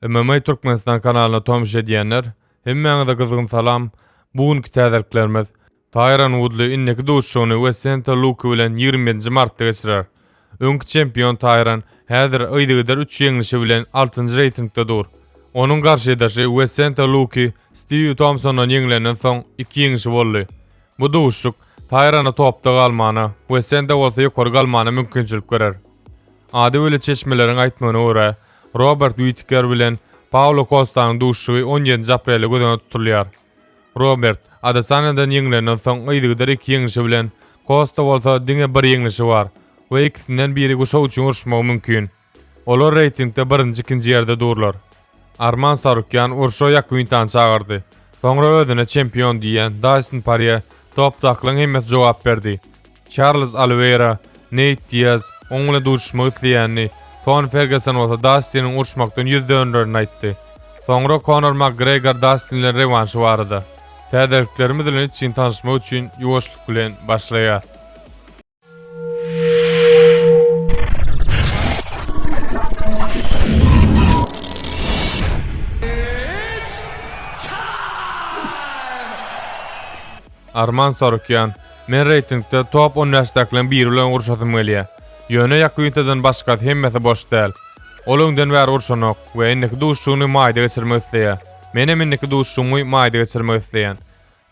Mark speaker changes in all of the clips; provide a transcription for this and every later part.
Speaker 1: MMA Türkmenistan kanalyna tomuş edýänler, hemmäňize gyzgyn salam! Bu günki täzeliklerimiz, Taýron Wudli indiki duşuşygyny Wesente Luke bilen ýigrimi ýedinji martda geçirer. Öňki çempion Taýron häzir yzygider üç ýeňlişi bilen altynjy reýtingde dur. Onuň garşydaşy Wesente Luke Stiw Tomsondan ýeňilenden soň iki ýeňişi boldy. Bu duşuşyk Taýrona topda galmana, Wesente bolsa ýokary galmana mümkinçilik berer. Ady weli çeşmeleriň aýtmagyna görä, Robert Witiker bilen Paulo Kostanyň duşuşygy on ýedinji aprele göz öňünde tutulýar. Robert, Adesanýadan ýeňlenden soň yzygider iki ýeňişi bilen, Kosta bolsa diňe bir ýeňlişi bar we ikisinden biri guşak üçin uruşmagy mümkin. Olar reýtingde birinji-ikinji ýerde durlar. Arman Sarukýan urşa Ýakuintany çagyrdy. Soňra özüne çempion diýýän Daýson Parýe topdakylaryň hemmesi jogap berdi. Çarlz Oliweýra, Neýt Diaz, oň bilen duşuşmak isleýänini, Toni Ferguson bolsa Dastiniň uruşmakdan ýüz dönrerini aýtdy. Soňra Konor Makgregor Dastin bilen rewanşy barada, Täzeliklerimiz bilen içgin tanyşmak üçin ýuwaşlyk bilen başlaýas. Arman Sarukýan, Men reýtingde top on bäşdäkileriň biri bilen uruşasym gelýär. Ýöne Ýakyntadan başgasy hemmesi boş däl. Ol öňden bäri urşanok we indiki duşuşygyny maýda geçirmek isleýär. Menem indiki duşuşygymy maýda geçirmek isleýän.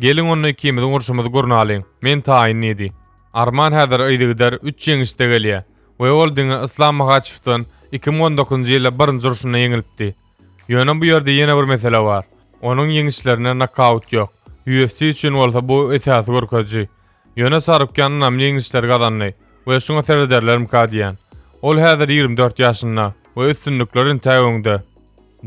Speaker 1: Geliň onda ikimiziň urşumyzy gurnalyň, men taýyn diýdi. Arman häzir yzygider üç ýeňişde gelýär we ol diňe Yslam Mahaçewden iki müň on dokuzynjy ýylda birinji urşunda ýeňilipdi. Ýöne bu ýerde ýene bir mesele bar. Onuň ýeňişlerinde nokaut ýok. UFC üçin bolsa bu esasy görkeziji. Ýöne Sarukýan ynamly ýeňişler gazandy we şuňa serederlermika diýýän. Ol häzir ýigrimi dört ýaşynda we üstünlikler entäk öňde.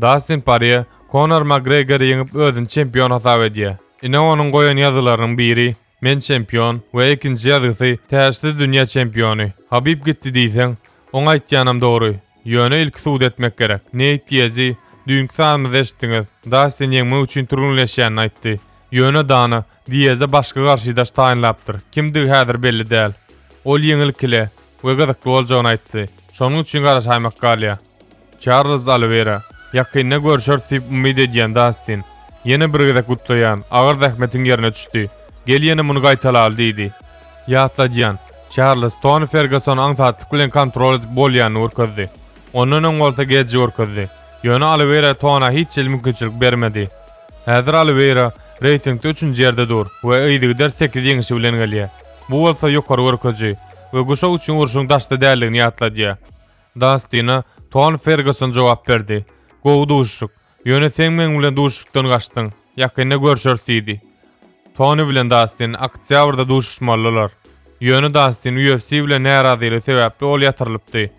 Speaker 1: Dastin Porýe Konor Makgregori ýeňip özüni çempion hasap edýär. Ine onuň goýan ýazylarynyň biri Men çempion we ikinji ýazgysy täşsiz dünýä çempiony. Habib gitdi diýseň, oň aýtýanam dogry. Ýöne ilki subut etmek gerek. Neýt Diezi, düýnki sanymyzda eşitdiňiz, Dastin ýeňmek üçin türgenleşýänini aýtdy. Ýöne Dana Dieze başga garşydaş taýynlapdyr, kimdigi häzir belli däl. Ol ýeňil kile we gyzykly boljagyny aýtdy. Şonuň üçin garaşaýmak galýar. Çarlz Oliwera, Ýakynda görşeris diýip umyt edýän, Dastin. Ýene bir gezek gutlaýan, agyr zähmetiň ýerine düşdi. Gel ýene muny gaýtalaly diýdi. Ýatladýan, Çarlz Toni Fergasony aňsatlyk bilen kontrol edip bolýanyny görkezdi. Ondan öň bolsa geji görkezdi. Ýöne Oliwera Tona hiç hili mümkinçilik bermedi. Häzir Oliwera reýtingde üçünji ýerde dur we yzygider sekiz ýeňişi bilen gelýär. Bu bolsa ýokary görkeji we guşak üçin urşuň daşda däldigini ýatladýar. Dastina Ton Ferguson jogap berdi. Gowy duşuşyk. Ýöne seň meň bilen duşuşykdan gaçdyň. Ýakynda görşeris diýdi. Toni bilen Dastin oktýabrda duşuşmalydylar. Ýöne Dastin UFC bilen närazylygy sebäpli ol ýatyrylypdy.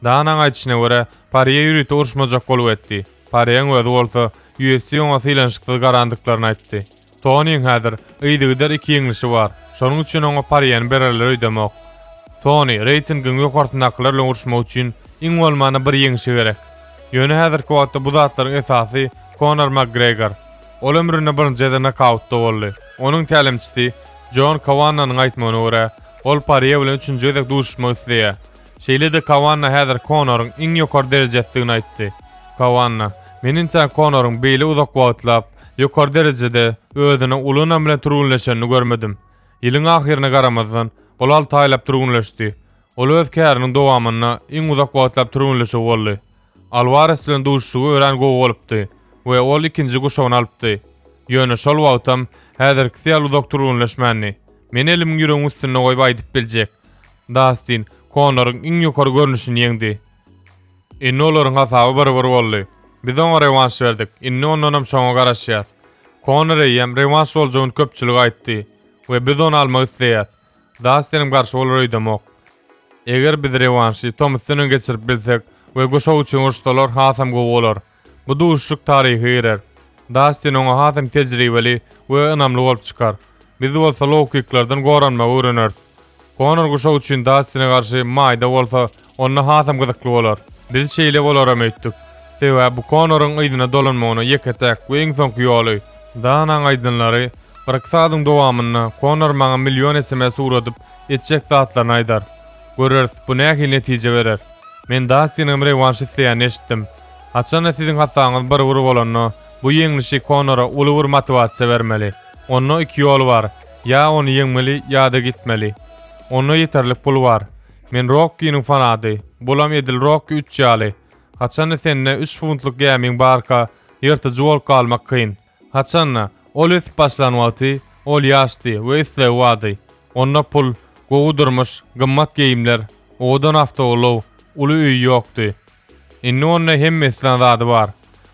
Speaker 1: Danaň aýdyşyna görä, Parýe ýörite uruşmajak bolup etdi. Parýeň özi bolsa UFC oňa sylanyşyksyz garandyklaryny aýtdy. Tonyň häzir yzygider iki ýeňlişi bar, şonuň üçin oňa Pariýany bererler öýdemok. Tony, reýtingiň ýokarsyndakylar bilen uruşmak üçin iň bolmanda bir ýeňişi gerek. Ýöne häzirki wagtda bu zatlaryň esasy Konor Makgregor. Ol ömründe birinji gezek nokautda boldy. Onuň tälimçisi Jon Kawannanyň aýtmagyna görä, ol Pariýe bilen üçünji gezek duşuşmak isleýär. Şeýle-de Kawanna häzir Konoryň iň ýokary derejesidigini aýtdy. Kawanna, Men entäk Konoryň beýle uzak wagtlap, ýokary derejede özüniň uly ynam bilen türgenleşenini görmedim. Ýylyň ahyryna garamazdan, ol alty aýlap türgenleşdi. Ol öz käriniň dowamynda iň uzak wagtlap türgenleşigi boldy. Alwares bilen duşuşygy örän gowy bolupdy we ol ikinji guşagyny alypdy. Ýöne şol wagtam häzirkisi ýaly uzak türgenleşmändi. Men elimi ýüregiň üstünde goýup aýdyp biljek. Dastin Konoryň iň ýokary görnüşini ýeňdi. Indi olaryň hasaby bir-bir boldy. Biz oňa rewanş berdik, indi ondanam şoňa garaşýas. Konor eýýäm rewanş boljagyny köpçülige aýtdy we biz ony almak isleýäs. Dastinim garşy bolar öýdemok. Eger biz rewanşy Tomusdan öň geçirip bilsek we guşak üçin uruşsalar hasam gowy bolar. Bu duşuşyk taryha girer. Dastin oňa hasam tejribeli we ynamly bolup çykar. Biz bolsa low-kiklerden goranmagy öwreneris. Konor guşak üçin Dastine garşy maýda bolsa, onda hasam gyzykly bolar. Biz şeýle bolaram öýtdük. Sebäbi bu Konoryň yzyna dolanmagyna ýeke-täk we iň soňky ýoly. Danaň aýdanlary, Birki sagadyň dowamynda Konor maňa million sms ugradyp, etjek zatlaryny aýdar. Göreris, bu nähili netije berer. Men Dastinigem rewanş isleýänini eşitdim. Haçanda siziň hassaňyz bir bir bolanda, bu ýeňlişi Konora uly bir motiwasiýa bermeli. Onda iki ýol bar, ýa ony ýeňmeli, ýa-da gitmeli. Onda ýeterlik pul bar. Men Rokkiniň fanaty, bulam edil Rokki üç ýaly. Haçanda sende üç funtluk gämiň barka, ýyrtyjy bolup galmak kyn. Haçan-da, ol ösüp başlan wagty, ol ýaşdy we islegi bardy. Onda pul, gowy durmuş, gymmat geýimler, owadan awtoulag, uly öýi ýokdy. Indi onda hemme islän zady bar.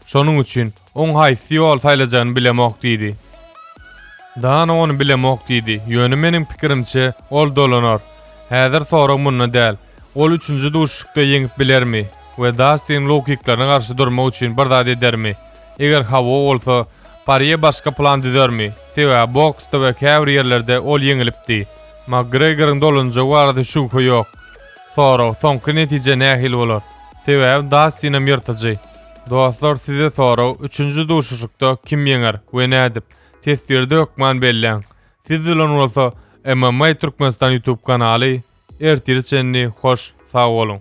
Speaker 1: Şonuň üçin, oň haýsy ýoly saýlajagyny bilemok diýdi. Dana ony bilemok diýdi, ýöne meniň pikirimçe, ol dolanar. Häzir sorag munda däl, ol üçünji duşuşykda ýeňip bilermi we Dastiniň low-kiklaryna garşy durmak üçin bir zat edermi? Eger hawa bolsa, Porýe başga plan düzermi? Sebäbi boksda we käbir ýerlerde ol ýeňilipdi. Makgregoryň dolanjagy barada şübhe ýok. Sorag, soňky netije nähili bolar? Sebäbi Dastinem ýyrtyjy. Dostlar size sorag, üçünji duşuşykda kim ýeňer we nädip? Teswirde hökman belläň. Siz bilen bolsa MMA Türkmenistan ýutub kanaly. Ertire çenli hoş sag boluň.